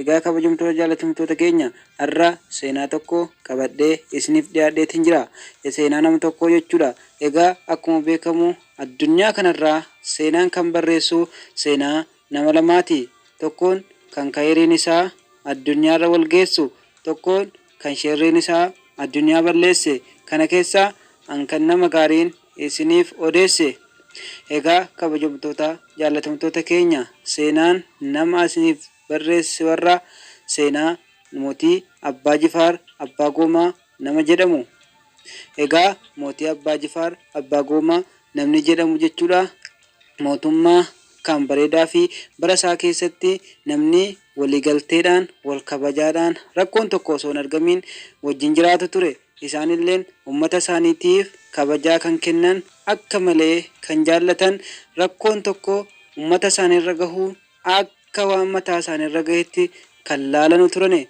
Egaa kabajamtoota jaalatamtoota keenya har'a seenaa tokko qabadhee isiniif dhiyaadheetiin jira. Seenaa nama tokkoo jechuudha. Egaa akkuma beekamu addunyaa kanarraa seenaan kan barreessu seenaa nama lamaati. Tokkoon kan kayriin isaa addunyaarra wal geessu, tokkoon kan sherriin isaa addunyaa balleesse kana keessaa an kan nama gaariin isiniif odeesse egaa kabajamtoota jaallatamtoota keenya seenaan nama asiniif barreesse warraa seenaa mootii abbaa jifaar abbaa goomaa nama jedhamu egaa mootii abbaa jifaar abbaa goomaa namni jedhamu jechuudha mootummaa akkaan bareedaa fi bara isaa keessatti namni waliigalteedhaan, wal kabajaadhaan, rakkoon tokko osoo hin argamiin wajjin jiraatu ture. Isaan illeen ummata isaaniitiif kabajaa kan kennan, akka malee kan jaallatan, rakkoon tokko ummata isaanii irra gahu akka waan mataa isaanii irra gahetti kan laalanu turani.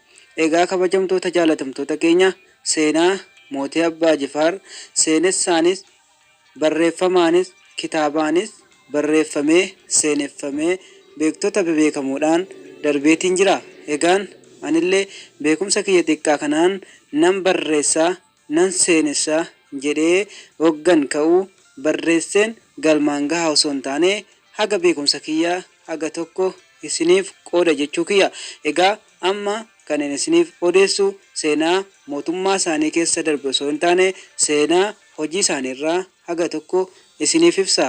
Egaa kabajamtoota jaalatamtoota keenya seenaa Mootii Abbaa Jifaar seenessaanis Barreeffamaanis kitaabaanis barreeffamee seeneffamee beektota bebeekamoodhaan darbeetiin jira. Egaan anillee beekumsa kiyya xiqqaa kanaan nan barreessa, nan seenessa jedhee oggan ka'u barreesseen galmaan gaha osoo hin taane haga beekumsa kiyyaa haga tokko isiniif qooda jechuu kiyya. Egaa amma kanin isiniif odeessu seenaa mootummaa isaanii keessa darbe osoo hin taane seenaa hojii isaanii irraa haga tokko isiniif ibsa.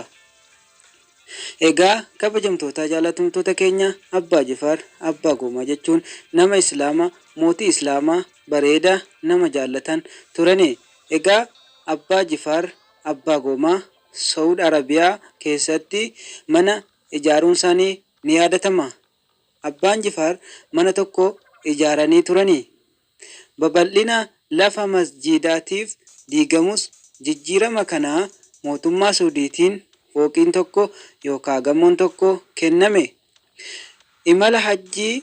Egaa kabajamtootaa jaalatamtoota keenya Abbaa Jifaar Abbaa Goomaa jechuun nama Islaama mootii Islaamaa bareeda nama jaallatan turani. Egaa Abbaa Jifaar Abbaa Goomaa Sawud Arabiyaa keessatti mana ijaaruunsaanii ni yaadatama. Abbaan Jifaar mana tokko ijaaranii turani. Babal'ina lafa masjiidaatiif diigamus jijjiirama kanaa mootummaa Suudiitiin fooqiin tokko yookaa gamoon tokko kenname. Imala Hajjii,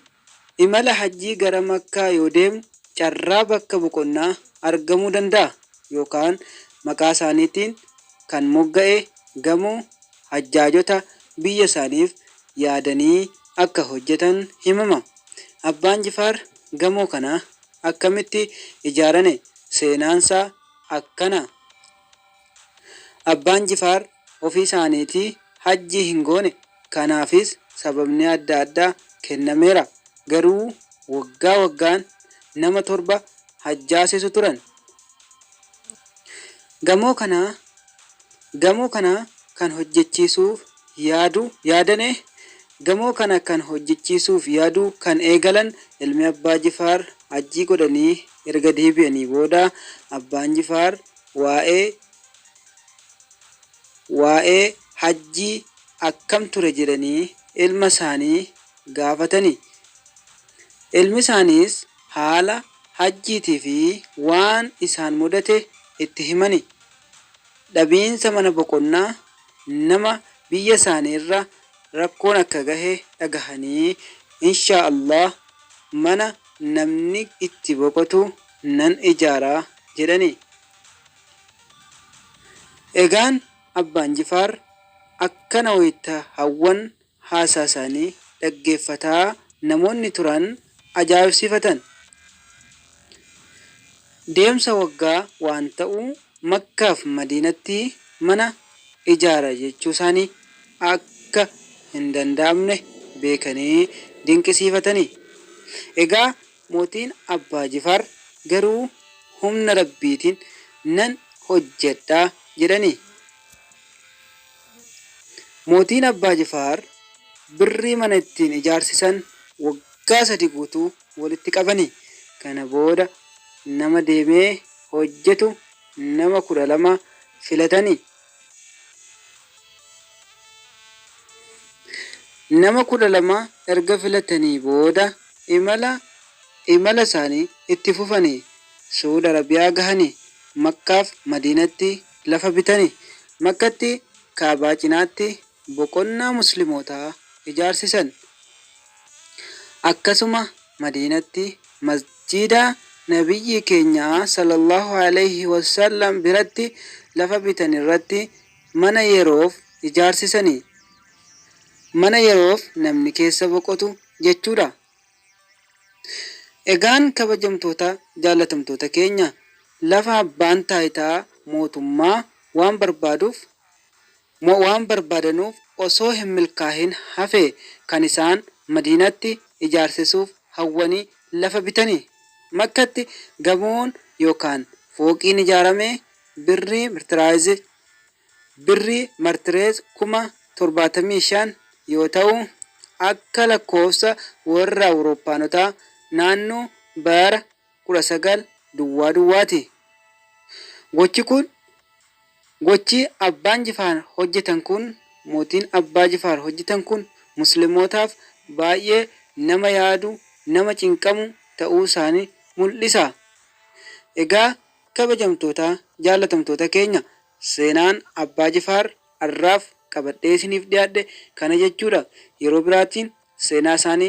Imala Hajjii gara Makkaa yoo deemnu carraa bakka boqonnaa argamuu danda'a yookaan maqaa isaaniitiin kan mogga'e gamoo hajjaajota biyya isaaniif yaadanii akka hojjatan himama. Abbaan Jifaar gamoo kana akkamitti ijaarane? Seenaansaa akkana. Abbaan Jifaar ofii isaaniitii Hajjii hin goone, kanaafis sababni adda addaa kennameera. Garuu waggaa waggaan nama torba hajjaasisu turan. Gamoo kana Gamoo kana kan hojjechiisuuf yaadu yaadane Gamoo kana kan hojjechiisuuf yaadu kan eegalan ilmi Abbaa Jifaar Hajjii godhanii erga deebi'anii booda Abbaan Jifaar Waa'ee Waa'ee hajjii akkam ture jedhanii ilma isaanii gaafatani. Ilmi isaaniis haala hajjiitii fi waan isaan mudate itti himani. Dhabiinsa mana boqonnaa nama biyya isaanii irra rakkoon akka gahe dhagahanii, Inshaa Allaah mana namni itti boqotu nan ijaara jedhani. Egaan Abbaan Jifaar akkana wayita hawwan haasaasaanii dhaggeeffataa namoonni turan ajaa'ibsiifatan. Deemsa waggaa waan ta'u Makkaaf Madiinatti mana ijaara jechuusaanii akka hindanda'amne beekanii dinqisiifatani. Egaa Mootiin Abbaa Jifaar garuu humna Rabbiitiin nan hojjedha jedhani. Mootiin Abbaa Jifaar birrii mana ittiin ijaarsisan waggaa sadi guutuu walitti qabani. Kana booda nama deemee hojjetu nama 12 filatani. Nama 12 erga filatanii booda imala imala isaanii itti fufanii Su'uud Arabiyaa gahani. Makkaaf Madiinatti lafa bitani. Makkatti Ka'abaa cinaatti boqonnaa Muslimootaa ijaarsisan. Akkasuma Madiinatti Masjiida Nabiyyii keenyaa, Sallallaahu aleyhi wa sallam, biratti lafa bitan irratti mana yeroof ijaarsisani. Mana yeroof namni keessa boqotu jechuudha. Egaan kabajamtoota jaallatamtoota keenya, lafa abbaan taayitaa mootummaa waan barbaaduuf Moo waan barbaadanuuf osoo hin milkaahin hafee kan isaan Madiinatti ijaarsisuuf hawwanii lafa bitani? Makkatti gamoon yookaan fooqiin ijaaramee birrii Mirtiraayizii, Birrii Martireez, kuma 75 yoo ta'u, akka lakkoofsa warra Awurooppaanotaa naannoo bara 19 duwwaa duwwaa ti. Gochi kun gochi abbaan jifaar hojjetan kun mootiin abbaa jifaar hojjetan kun muslimootaaf baay'ee nama yaadu nama cinqamu ta'uu isaani mul'isa. Egaa kabajamtoota jaallatamtoota keenya seenaan abbaa jifaar arraaf qabadhee isiniif dhiyaadhe kana jechuudha. Yeroo biraatiin seenaa isaani